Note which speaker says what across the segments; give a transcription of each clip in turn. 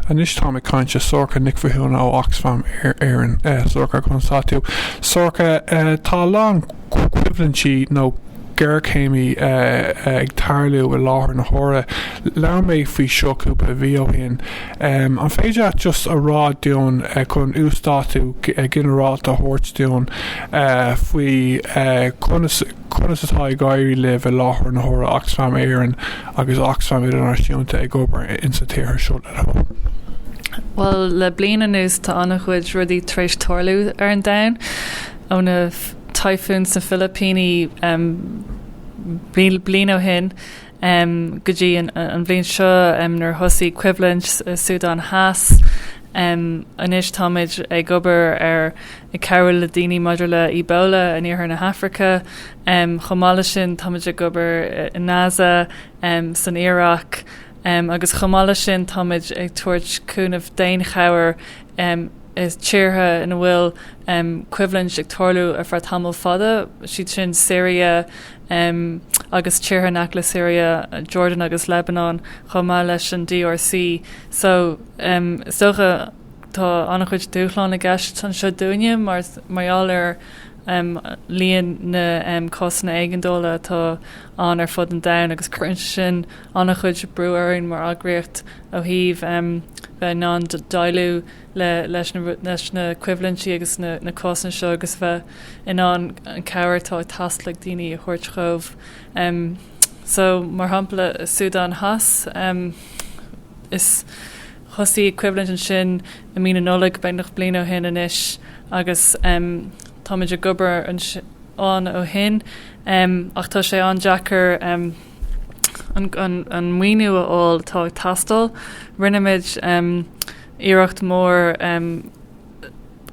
Speaker 1: Anois táim ag caint le Sorcha Nic Mhathúna ó Oxfam Éireann. Sorcha, go raibh maith a't. Sorcha, tá a lán coimhlintí nó géarchéimí ag tarlú i láthair na huaire. Labhair mé faoi seo cúpla mhí ó shin. An féidir leat just a rá dúinn, chun uasdátú ginearálta a thabhairt dúinn faoi Conas atá ag éirí libh i láthair na huaire Oxfam Éireann agus Oxfam Idirnáisiúnta ag obair in sna tíortha seo le Hone? Bhuel,
Speaker 2: le bliain anuas tá an-chuid rudaí tar éis tarlú ar an domhan, ó na Typhoon sna Filipíní bliain ó shin go dtí an bhliain seo nuair a thosaigh coimhlint i Súdáin Theas. Anois táimid ag obair ar ag cabhrú le daoine maidir le Ebola in iarthar na hAfraice. Chomh maith leis sin táimid ag obair i nGaza, san Iaráic agus chomh maith leis sin táimid ag tabhairt cúnaimh daonchabhair i tíortha ina bhfuil coimhlint ag tarlú ar feadh tamaill fada, siad sin Siria agus tíortha in aice le Siria, Jordan agus Lebanon, chomh maith leis an DRC. So, is dócha. Tá an-chuid dúshlán i gceist anseo dúinne mar gheall ar líon na gcásanna éigeandála atá ann ar fud an domhain agus cuireann sé sin an-chuid brú orainn mar eagraíocht ó thaobh bheith in ann déileáil leis na coimhlintí agus na cásanna seo agus bheith in ann an chabhair atá ag teastáil ag daoine a thabhairt dhóibh. Mar shampla, sa tSúdáin Theas, Thosaigh coimhlint ansin i mí na Nollag, beagnach bliain ó shin anois, agus táimid ag obair ann ó shin. Ach tá sé an-deacair an maoiniú a fháil atá ag teastáil. Rinneamid iarracht mhór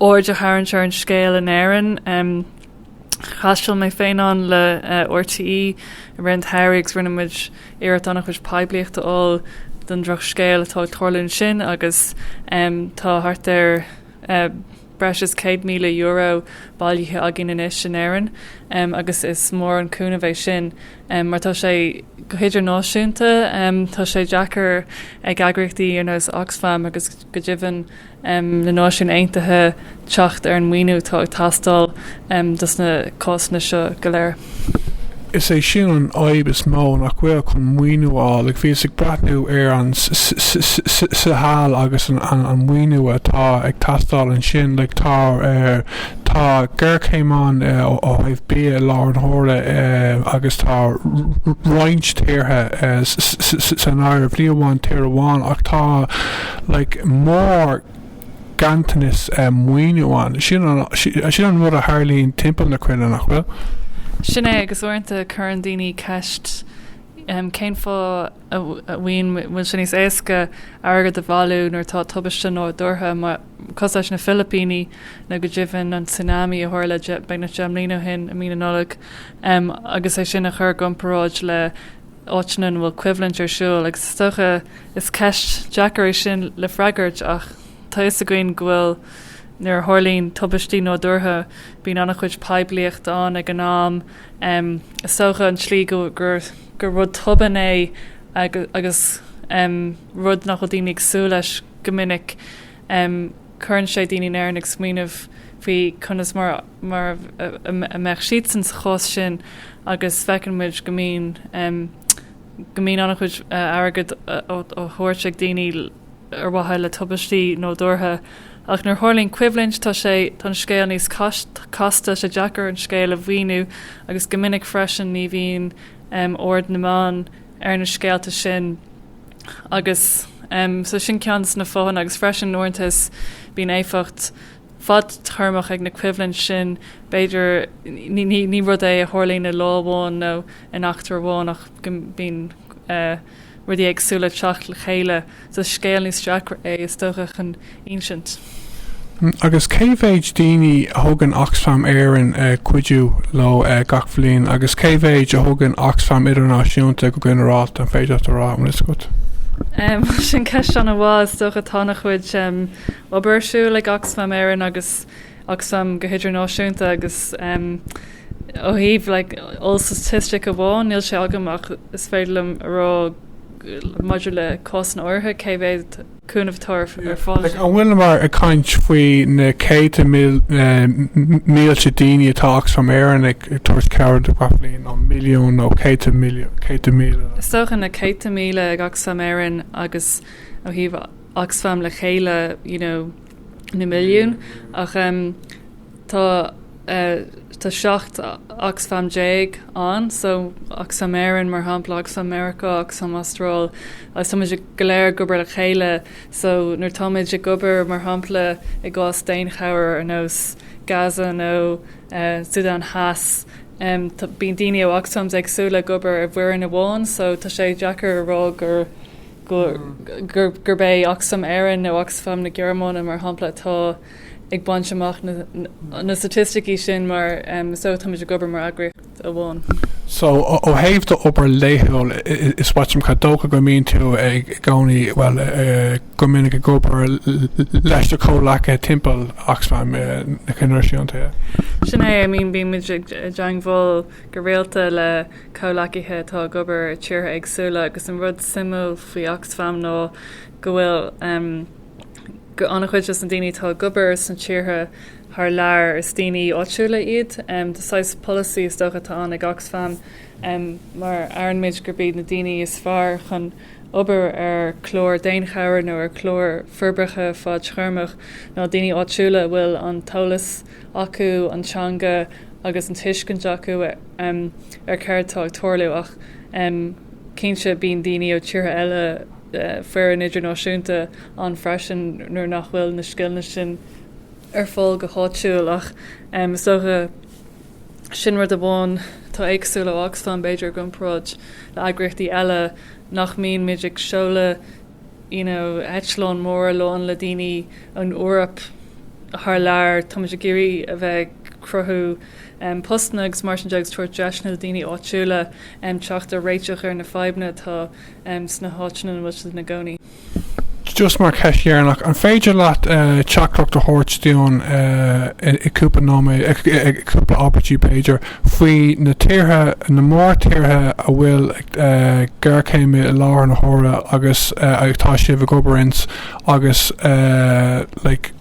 Speaker 2: aird a tharraingt ar an scéal in Éirinn. Thaistil mé féin ann le RTÉ i rith an tsamhraidh agus rinne muid iarracht an-chuid poiblíochta a fháil don drochscéal atá ag tarlú ansin agus tá thart ar breis is €100,000 bailithe againn anois in Éirinn agus is mór an cúnamh é sin mar tá sé go hidirnáisiúnta. Tá sé deacair ag eagraíochtaí ar nós Oxfam agus go deimhin na Náisiún Aontaithe teacht ar an maoiniú atá ag teastáil dos na cásanna seo go léir. Is é
Speaker 1: sin an fhadhb is mó nach bhfuil chun maoiniú a fháil, agh bhíos ag breathnú ar an s-s-s-s-s-s-s-Sahel agus an an maoiniú atá ag teastáil ansin, like tá er tá géarchéim ann eh ó ó thaobh bia i láthair na huaire eh agus tá r-r-roinnt tíortha eh s-s-s-s-san áireamh, ní amháin tír amháin ach tá Like mórghanntanas maoiniú ann. Sin an sin an rud a tharlaíonn timpeall na cruinne, nach bhfuil? Sin é, agus
Speaker 2: uaireanta cuireann daoine ceist cén fáth a mbíonn go bhfuil sé níos éasca airgead a bhailiú nuair atá tubaiste nádúrtha mar cosúil leis na Filipíní nó go deimhin an tsunami a tharla beagnach deich mbliain ó shin i mí na Nollag agus é sin a chuir i gcomparáid le áiteanna ina bhfuil coimhlint ar siúl agus is dócha is ceist deacair é sin le freagairt ach tá fhios againn go bhfuil nuair a tharlaíonn tubaistí nádúrtha bíonn an-chuid poiblíocht ann ag an am. Is dócha an tslí go gur gur rud tobann é agus rud nach bhfuil daoine ag súil leis go minic. em. cuireann sé daoine in Éirinn ag smaoineamh faoi conas mar mar a mbeadh siadsan sa chás sin agus feiceann muid go mbíonn em. go mbíonn an-chuid airgid á thabhairt ag daoine ar mhaithe le tubaistí nádúrtha ach nuair a tharlaíonn coimhlint tá sé. tá an scéal níos casta, sé deacair an scéal a mhíniú agus go minic freisin ní bhíonn em. aird na meán ar na scéalta sin. agus so sin ceann dos na fáthanna agus freisin uaireanta is bíonn éifeacht fadtéarmach ag na coimhlint sin b'fhéidir ní, ní, ní rud é a tharlaíonn i lá amháin nó in eachtra amháin ach go mbíonn eh, rudaí éagsúla ag teacht le chéile. Is scéal níos deacra é is dócha chun
Speaker 1: insint. Agus cé mhéid daoine a thugann Oxfam Éireann cuidiú leo gach bliain agus cé mhéid a thugann Oxfam Idirnáisiúnta go ginearálta, an féidir leat a rá, an fhios agat? Sin
Speaker 2: ceist ana mhaith. Is dócha tá ana chuid obair ar siúl ag Oxfam Éireann agus Oxfam go hidirnáisiúnta agus ó thaobh like oll-statistic amháin níl sé agam ach is féidir liom a rá maidir le cásanna áirithe cé mhéad cúnamh atá ar fáil. An bhfuileamar
Speaker 1: ag caint faoi na céadta mílte daoine atá Oxfam Éireann ag tabhairt cabhair dóibh gach bliain, nó milliún nó céadta míle? Is dócha
Speaker 2: na céadta míle ag Oxfam Éireann agus ó thaobh Oxfam le chéile, you know, na milliún, ach tá 17 Oxfam ann, so Oxfam Éireann, mar shampla, Oxfam Mheiriceá, Oxfam Astráil, agus táimid go léir ag obair le chéile. So nuair táimid ag obair, mar shampla, i gcás daonchabhair ar nós Gaza nó Sudan Theas, bíonn daoine ó Oxfams éagsúla ag obair i bhfoireann amháin, so tá sé deacair a rá gur. gurb é Oxfam Éireann nó Oxfam na Gearmáine, mar shampla, atá ag baint amach na staitisticí sin mar so táimid ag obair mar eagraíocht amháin. So, ó
Speaker 1: thaobh d'obair laethúil, is dócha go mbíonn tú i gcónaí, bhuel, go minic ag obair leis do chomhleacaithe timpeall Oxfam, idirnáisiúnta? Sin é, I
Speaker 2: mean bímid i dteangmháil go rialta le. comhleacaithe atá ag obair i tíortha éagsúla agus an rud suimiúil faoi Oxfam ná go bhfuil an-chuid des na daoine atá ag obair sna tíortha thar lear, is daoine áitiúla iad. Tá saghas polasaí is dócha atá ann ag Oxfam mar aithnímid gurb iad na daoine is fearr chun obair ar chlár daonchabhair nó ar chlár forbartha fadtéarmach ná daoine áitiúla a bhfuil an t-eolas, acu, an teanga agus an tuiscint acu ar céard tá ag tarlú. Ach cinnte, bíonn daoine ó tíortha eile, foireann idirnáisiúnta, ann freisin nuair nach bhfuil na scileanna sin ar fáil go háitiúil. Ach is dócha, sin rud amháin atá éagsúil faoi Oxfam, b'fhéidir, i gcomparáid le heagraíochtaí eile, nach mbíonn muid ag seoladh, eitleáin mhóra lán le daoine ón Eoraip thar lear, táimid ag iarraidh a bheith ag cruthú postanna agus mar sin de agus tabhairt deiseanna do dhaoine áitiúla teacht ar réiteach ar na fadhbanna atá sna háiteanna ina bhfuil siad ina gcónaí. Just
Speaker 1: mar cheist dheireanach, an féidir leat teachtaireacht a thabhairt dúinn i gcúpla nóiméad, cúpla abairtí b'fhéidir, Faoi na tíortha, na mórtíortha a bhfuil géarchéim i láthair na huaire agus atá sibh ag obair ins agus like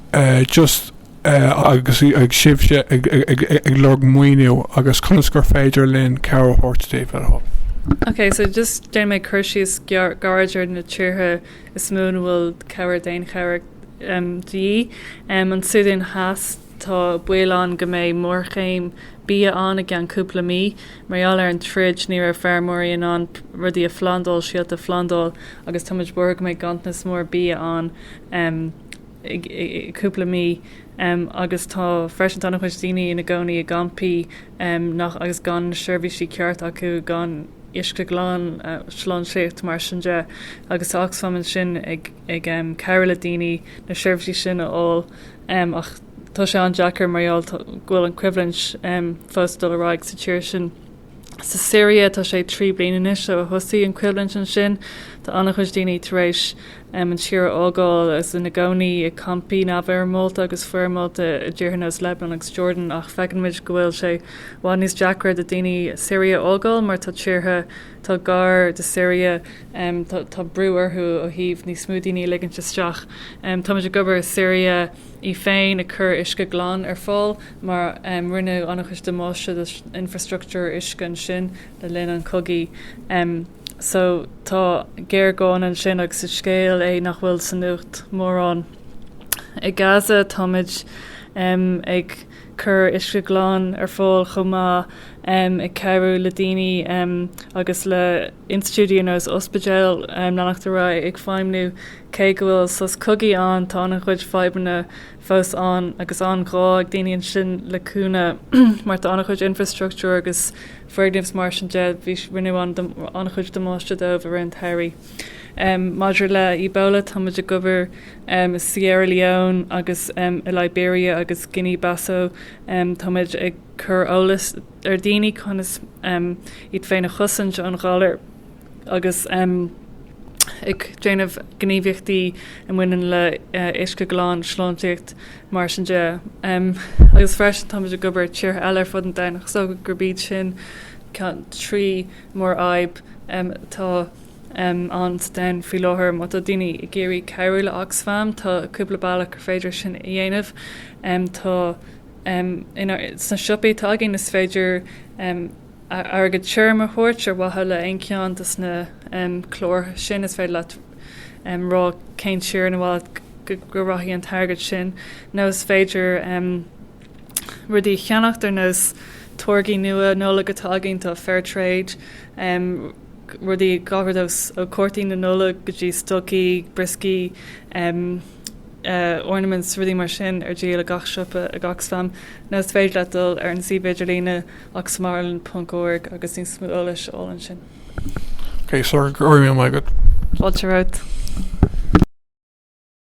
Speaker 1: just agus ag sibhse ag lorg maoiniú agus conas gur féidir linn cabhair a thabhairt daoibh ar dhul. Ok,
Speaker 2: so just déanfaidh mé cur síos gairid ar na tíortha is mó ina bhfuil cabhair daonchabhair de dhíth. An Súdáin Theas. Tá baol ann go mbeidh géarchéim bia ann i gceann cúpla mí. Mar gheall ar an troid, ní raibh feirmeoirí in ann rudaí a phlandáil, síolta a phlandáil, agus tá muid buartha go mbeidh ganntanas mór bia ann i gcúpla mí. Agus tá freisin, tá an-chuid daoine ina gcónaí i gcampaí nach, agus gan na seirbhísí ceart acu, gan uisce glan, sláintíocht, mar sin de. Agus tá Oxfam ansin ag cabhrú le daoine na seirbhísí sin a fháil. em, ach tá sé an-deacair mar gheall go bhfuil an choimhlint, em, fós ag dul ar aghaidh sa tír sin. Sa Siria, tá sé trí bliana anois ó thosaigh an choimhlint ansin. Tá an-chuid daoine tar éis, em, an tír a fhágáil agus ina gcónaí i gcampaí neamhfhoirmeálta agus foirmeálta i dtíortha ar nós Lebanon agus Jordan ach feiceann muid go bhfuil sé i bhfad níos deacra do dhaoine Siria a fhágáil mar tá tíortha atá gar do Siria, tá brú orthu ó thaobh níos mó daoine a ligint isteach. Táimid ag obair i Siria í féin, ag cur uisce glan ar fáil mar rinneadh an-chuid damáiste don infreastruchtúr uisce ansin le linn an chogaidh. So tá géarghá ansin agus is scéal é nach bhfuil sa nuacht mórán. I Gaza táimid ag. cur uisce glan ar fáil chomh maith, ag cabhrú le daoine agus le institiúidí ar nós ospidéil, leanacht ar aghaidh ag feidhmniú, cé go bhfuil sos cogaidh ann tá an-chuid fadhbanna fós ann agus an-ghá ag daoine ansin le cúnamh mar tá an-chuid infreastruchtúir agus foirgneamh is mar sin de bhí rinneadh an-chuid damáiste dóibh i rith an tsamhraidh. Maidir le Ebola, táimid ag obair i Sierra Leone agus i Liberia agus Guinea Bissau. Táimid ag cur eolas ar dhaoine conas iad féin a chosaint ón ghalar agus ag déanamh gníomhaíochtaí a bhaineann le uisce glan, sláintíocht, mar sin de. Agus freisin táimid ag obair i tíortha eile ar fud an domhain ach is dócha gurb iad sin ceann trí mórfhadhb atá ann sa domhan faoi láthair, má tá daoine ag iarraidh cabhrú le Oxfam, tá cúpla bealach gur féidir sin a dhéanamh. Tá sna siopaí atá againn, is féidir airgead tirim a thabhairt ar mhaithe le haon cheann de na cláir sin, is féidir leat rá cén tír ar mhaith leat go rachaidh an t-airgead sin, nó is féidir. rudaí a cheannach ar nós táirgí nua Nollag atá againn, tá Fair Trade, em, rudaí gach aon rud ós, ó cártaí na Nollag go dtí stocaí, brioscaí, em, eh, ornaments, rudaí mar sin ar díol i gach siopa, ag Oxfam, nó is féidir leat dul ar an suíomh idirlíne oxfamireland ponc org agus níos mó eolais a fháil ansin. Okay, sorry, go raibh maith agat. Fáilte
Speaker 1: romhat.